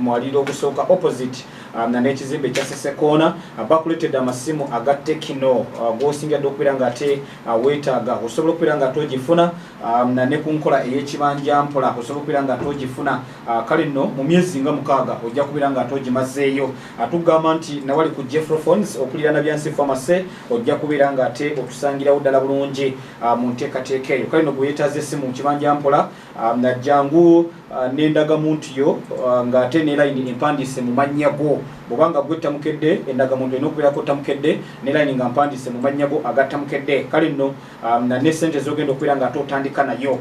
kumwaliro ogusooka opposite um, na n'ekizimbe ekya sesekoona uh, bakuletedde amasimu aga tekino uh, gwosingira dde okubeera nga ate uh, weetaaga osobola okubeera nga togifuna um, na ne ku nkola ey'ekibanja mpola osobola okubeera nga togifuna kale nno mu myezi nga mukaaga ojja kubeera nga togimazeeyo tugamba nti nawali ku jeffrophones okulirana byansi famase ojja kubeera nga ate otusangirawo ddala bulungi mu nteekateeka eyo kale no gwe yeetaaza essimu mu kibanja mpola um, najjangu Ah, n'endagamuntu yo ah, ng'ate ne layini empandiise mu mannya go bwoba nga gwe tamukedde endagamuntu erina okubeerako tamukedde ne layini nga mpandiise mu mannya go aga tamukedde kale nno ah, nane sente zogenda okubeera nga ate otandika nayo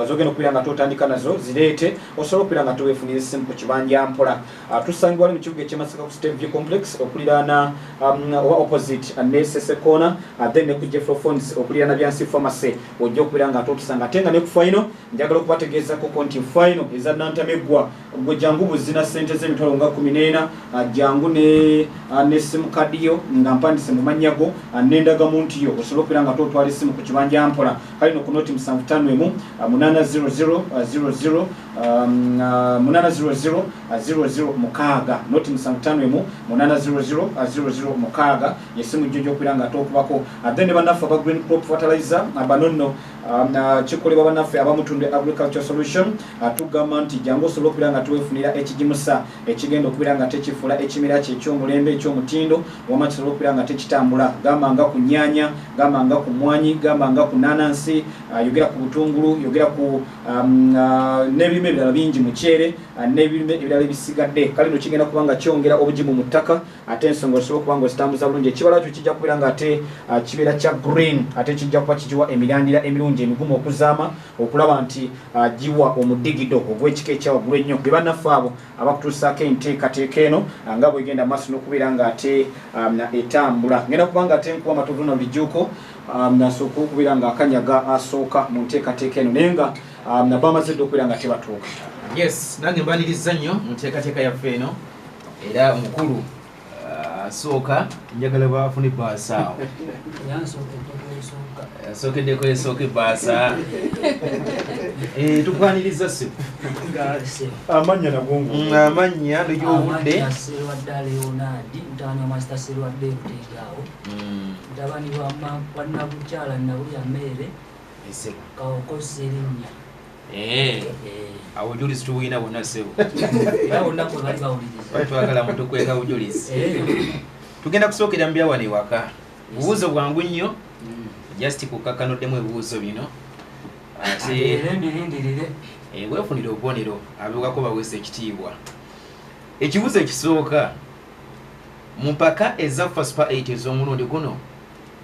zogenda okubeera nga ate otandika nazo zireete osobola okubeera nga teweefunira essimu ku kibanja mpola tusangibwa ne mu kibuga ekyemasaka ku state view complex okuliraana um, oba opposite ne sesekoona then ne ku jeffrophones okuliraana byansi pharmacy ojja okubeera nga ate otusanga ate nga ne ku faino njagala okubategeezako ko nti final eza nantameggwa gwe jangu buzina sente z'emitwalo nga kumi n'ena ah, jangu ne ah, nesimu kadiyo nga mpandise mu mannya go ah, n'endagamuntu yo osobola okubeera nga totwala essimu ku kibanja mpola kale noku noti musanvu tano emu munana 0000 munana 0000 mukaaga noti musanvu tano emu munana 0000 mukaaga yesimu jjo gyokubeera nga tokubako then ne banaffe aba green crop fertilizer abanonno Um, kikolebwa banaffe abamutunda agriculture solution uh, tugamba nti jangu osobola okubeera nga twefunira ekigimusa ekigenda okubeera nga tekifula ekimera kye ekyomulembe ekyomutindo wama kisobola okubeera nga tekitambula gamba nga ku nyanya gamba nga ku mwanyi gamba nga ku nanansi uh, yogera ku butungulu yogera ku um, uh, nebirime ebirala bingi mukyere nebirime ebirala ebisigadde kale no kigenda kubanga kyongera obugimu mu ttaka ate ensonga osobola okuba ngaozitambuza bulungi ekibala kyo kijja kubeera nga ate ah, kibeera kya green ate kijja kuba kigiwa emirandira emirungi emigumu okuzaama okulaba nti ah, giwa omudigido ogw'ekika ekyawaggulu ennyo be bannaffe abo abakutuusaako enteekateeka eno ah, nga bwegenda maaso n'okubeera nga ate etambula ngenda kuba nga ate nkuba amatovu na bulijjuuko nasooka okubeera nga akanyaga asooka mu nteekateeka eno naye nga nabamaze dde okubeera nga tebatuuka yes nange mbaniriza nnyo mu nteekateeka yaffe eno era mukulu uh, asooka njagala bafuna ebbaasa awo asookeddeko esooka ebbaasa eh, tukwaniriza si amannya nagongo mm, amannya negyobudde mutabani wa nabukyala nabulya meere kaokosa erinnya Eh. awo obujulizi tubulina bwonna ssebo twagala mutukweka bujulizi eh. tugenda kusookera mu byawano ewaka bubuuzo bwangu nnyo mm. just kukkakanoddemu ebibuuzo bino ate eh, weefunire obubonero abewako baweesa ekitiibwa ekibuuzo ekisooka mu mpaka eza fasupa 8 ez'omulundi guno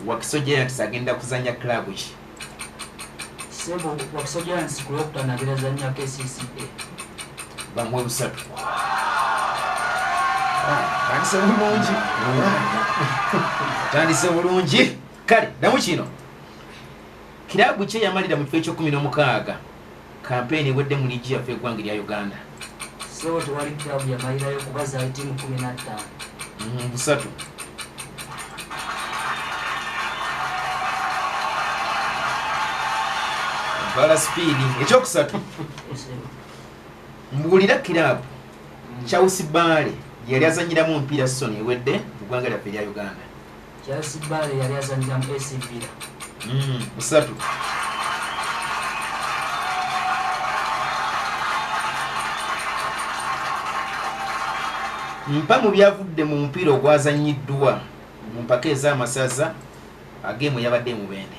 wakisojayantisa agenda kuzanya club ki Sebo wakusajja nsi ku lwokutaano abeera zannya KCCA bamuwa busatu atandise bulungi atandise bulungi kale damu kino kirabu kye yamalira mu kifo ekyokumi n'omukaaga Kampeyini ewedde mu liigi yaffe eggwange lya Uganda. Ssebo tewali kirabu yamalirayo kuba zaali ttiimu kkumi na ttaano. Mm, busatu. Bala sipiidi ekyokusatu mbuulira kiraabu mm. Chelsea Bale yali azannyiramu omupiira sizoni ewedde mu ggwanga lyaffe erya Uganda. Charles Bale yali azanira mu AC Villa. Mm, musatu. Mpa mu byavudde mu mupiira ogwazannyiddwa mu mpaka ez'amasaza ag'emu yabadde e Mubende.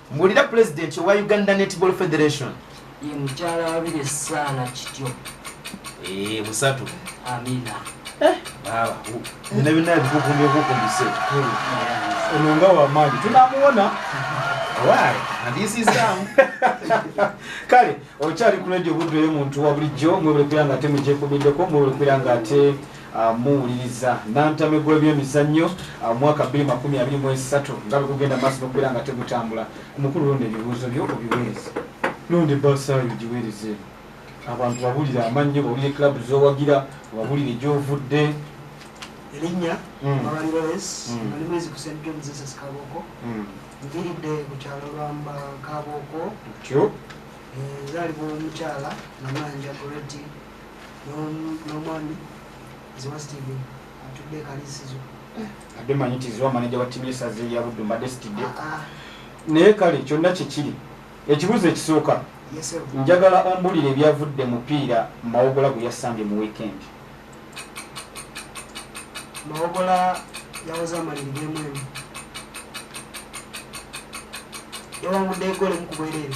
Mbulira President wa Uganda Netball Federation. Ye mkyala wabire sana kityo. Eh, busatu. Amina. Eh, baba. Nina bina bikukumbe kukumbise. Ononga wa maji. Tunamuona. Why? And this is down. Kale, okyali ku radio budwe muntu wa bulijjo, mwe bwe kulanga ate mujje kubiddeko, mwe bwe kulanga ate muwuliriza nantame gw'ebyemizannyo mu mwaka bbiri makumi abiri mu esatu nga bwe gugenda maaso n'okubeera nga tegutambula ku mukulu lundi ebibuuzo byo obiweereze lundi basaayo giweereze abantu babulire amannyo babulire club zowagira babulire gyovudde erinnya mm. abalirolesi mm. ali mwezi ku st john jesus kabooko mm. nviridde ku kyalo lwamba kabooko tyo ezaalibwa eh, omukyala namanja goreti n'omwami ziwa steven atudde ekalisizo abbe manyi ti ziwa maneja wa tiimu yesaza eyabuddu mbadde sitidde ah, ah. naye kale kyonna kyekiri ekibuuzo ekisooka njagala ombulire ebyavudde mupiira mawogola gwe yasambye mu weekend mawogola yawoza amaliri gemu emu yawangudde egole mukubwerere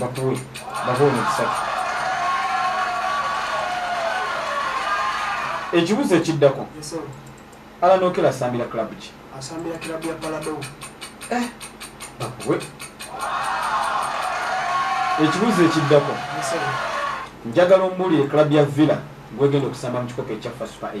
bakuwe bakuwe omukisa ekibuzo ekiddako alanokera asambira club ki asambira club ya palado eh, bakuwe ekibuzo ekiddako njagala ombuulire club ya villa gwegenda okusamba mu kikopo ekyaffa super 8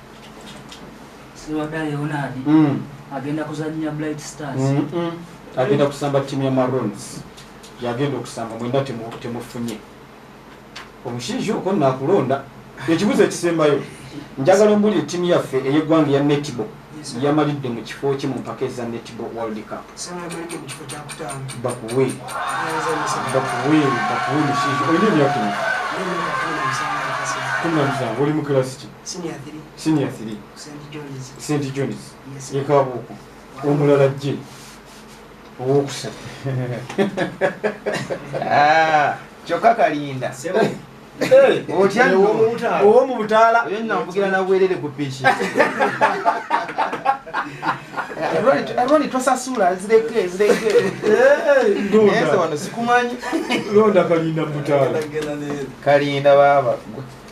siwada leonard mm. agenda kuzanya blight stars mm -mm. agenda kusamba timu ya marons yagenda okusamba mwenda temufunye omushinsha oko nakulonda ekibuzo ekisembayo njagala ombulire timu yaffe eyegwanga eya netball yamalidde mu kifo ki mu mpaka eza netball world cup bakuwe bakuwe bakuwe mushinsha olina emyaka kumi na musanvu oli mu kilasi ki senior 3 st johns yekabuuku omulala jje owokusatu ah, kyokka kalinda otyaowo mu butaala oyo nambugira nabwerere ku piki roni tosasula zireke zireke wano sikumanyi londa kalinda mutaala kalinda baaba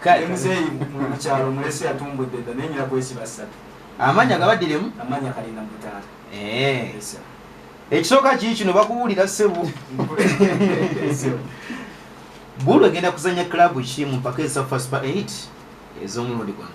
kale muzeeyi mu kyalo mulesi yatumbudde dda naye nyina kwesiba ssatu amanya gabadiremu amanya kalina mutaala eh. ekisooka kii kino bakuwulira ssebo bulu egenda kuzanya club ki mu mpaka eza fast pa 8 ez'omulundi guno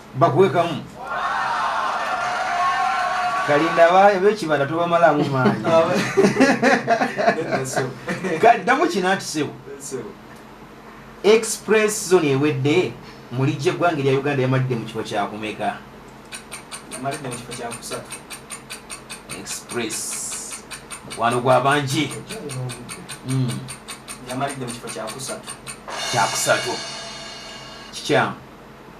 bakuwe kamu kalinda abekibanda tobamalamu maanyi kaddamu kina nti sebo express zone ewedde mulijja eggwanga erya uganda yamalidde mu kifo kyakumeka express mukwano gwa bangi hmm. kyakusatu kikyamu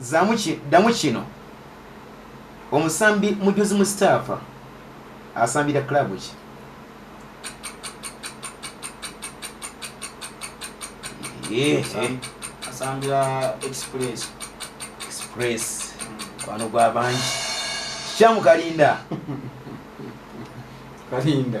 Zaamu ki, ddamu kino. Omusambi Mujuzi Mustafa asambira club ki? asambira express express kwano gwa bangi kikyamu kalinda kalinda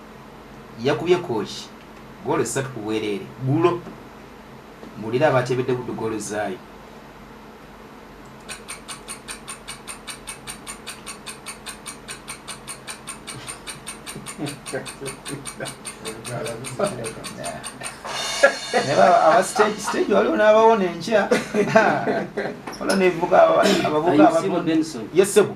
yakubye Kooki ggoolo ssatu ku bwereere ggulo. Mbuulira abateebedde Buddu ggoolo zaayo. abasitegi waliwo n'abawo nenkya wala nevuga abavuga yesebo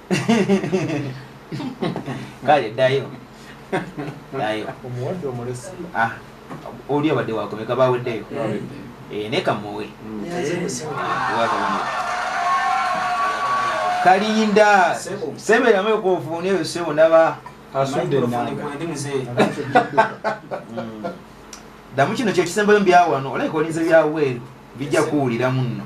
kale ddayo ddayo omuwadde omulesi ah, oli abadde wakomeka baweddeyo eh, naye kamuwe mm. kalinda seberamu ekonfuuni eyo sebo naba asudde enanga ddamu kino kyekisembayo mu byawano olabika olinze byawweeru bijja kuwuliramu nno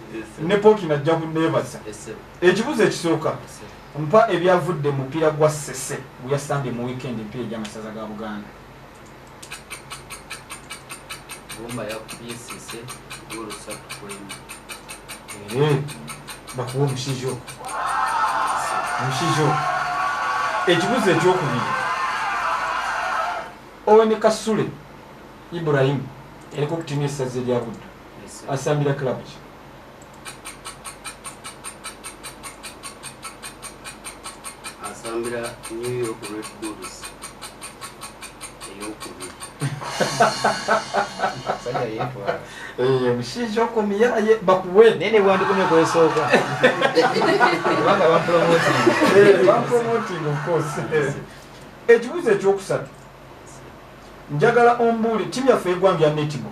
ne pooki najja kuneebaza ekibuzo ekisooka mpa ebyavudde mupiira gwa sese guyasambye mu weekend empiira egyamasaza ga buganda eh, bakuwa omusizo omusizo ekibuzo ekyokubiri owe ne kasule ibrahimu eriko okutimu esaza erya buddu asambira club ki asambira new york red bulls eyokubiri eh, mushinja okomiyaye bakuwe naye nebwandikomye kwesooka kubanga bampromoting eh, ofcourse eh, ekibuzo ekyokusatu njagala ombuuli timu yaffe egwanga ya netiball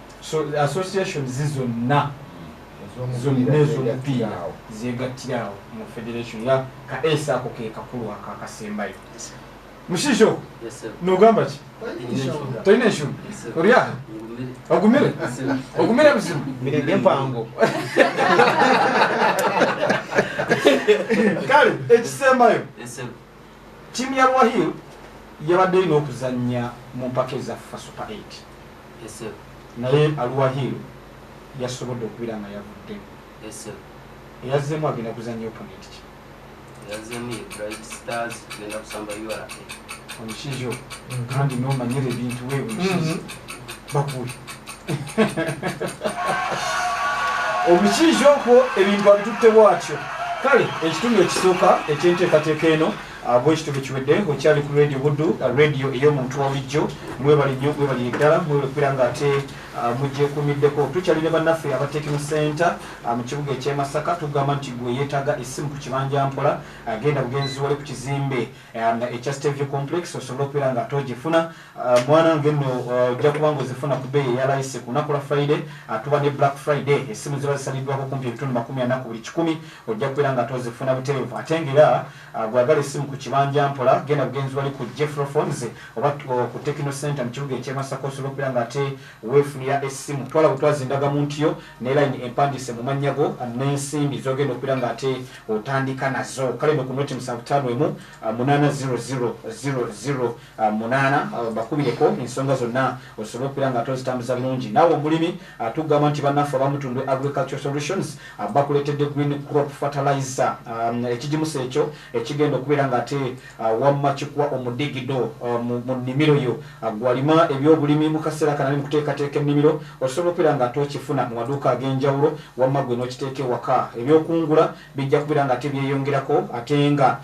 so association zi zonna zonna ezomupiira zegattira awo mu federation ya ka esa ako ke kakulu ako akasembayo mushijo nogamba ki tolina enshumu olya ogumire ogumire buzibu mirege mpango kale ekisembayo Ttiimu ya Ruahil yabadde erina okuzannya mu mpaka eza FUFA Super 8 naye Aruahil yasobodde okubira nga yavudde eyazzeemu agenda kuzannya opponent ki omukizo kandi nomanyira ebintu webukizi bakuwe omukiizi okwo ebintu abitutte bwatyo kale ekitundu ekisooka ekyenteekateeka eno bwe kitundu kiwedde okyali ku radio buddu radio ey'omuntu wabulijjo mwebali nnyo mwebali eddala mwebali okubeera nga ate Ah, mugyekumiddeko tukyali ne bannaffe abatekimu center ah, mu kibuga ekyemasaka tugamba nti gwe yeetaaga essimu ku kibanja mpola agenda ah, bugenzi wali ku kizimbe Um, ekya stevia complex osobola okubeera nga ate ogifuna uh, mwana nge nno uh, ojja kuba nga ozifuna ku beeyi eyalayise ku lunaku lwa friday atuba uh, ne black friday esimu ziba zisaliddwako kumpi ebitundu makumi ana ku buli kikumi ojja kubeera nga ate ozifuna butereevu ate ngaera gwagala esimu ku kibanja mpola genda bugenzi wali ku jeffrophones oba ku techno center mu kibuga ekyemasaka osobola okubeera nga ate weefunira esimu twala butwazi endagamuntu yo ne line empandise mu mannya go n'ensimbi zogenda okubeera nga ate otandika nazo kale no ku noti musanvu ttaano emu ah, munaana zero zero zero zero ah, munaana ah, bakubireko ensonga zonna osobole okubeera nga ate ozitambuza bulungi naawe omulimi tugamba nti bannaffe abamutundwe agriculture solutions bakuleetedde green crop fertilizer ekigimusa ekyo ekigenda okubeera nga ate Wamma kikuwa omudigido mu nnimiro yo. Ggwe alima ebyobulimi mu kaseera kano ali mu kuteekateeka ennimiro, osobola okubeera nga ate okifuna mu maduuka ag'enjawulo wamma ggwe n'okiteeka ewaka. Eby'okungula bijja kubeera nga ate byeyongerako ate nga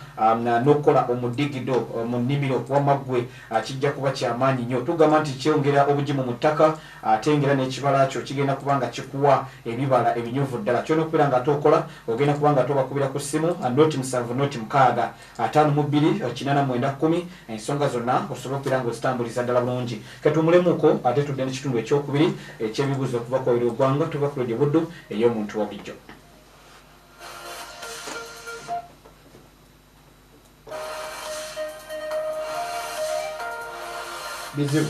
n'okukola omudigido mu nnimiro wamma ggwe kijja kuba kya maanyi nnyo. Tugamba nti kyongera obugimu mu ttaka ate ng'era n'ekibala kyo kigenda kuba nga kikuwa ebibala ebinyuvu ddala. Ky'olina okubeera nga ate okola, ogenda kuba nga ate obakubira ku ssimu, noti musanvu noti mukaaga. ataano mu bbiri kinana mwenda kkumi ensonga zonna osobola okubeera nga ozitambuliza ddala bulungi ketuumulemuko ate tudde ne kitundu ekyokubiri ekyebibuuzo okuva kwawiri ogwanga tuva ku radio buddu ey'omuntu wa bulijjo bizibu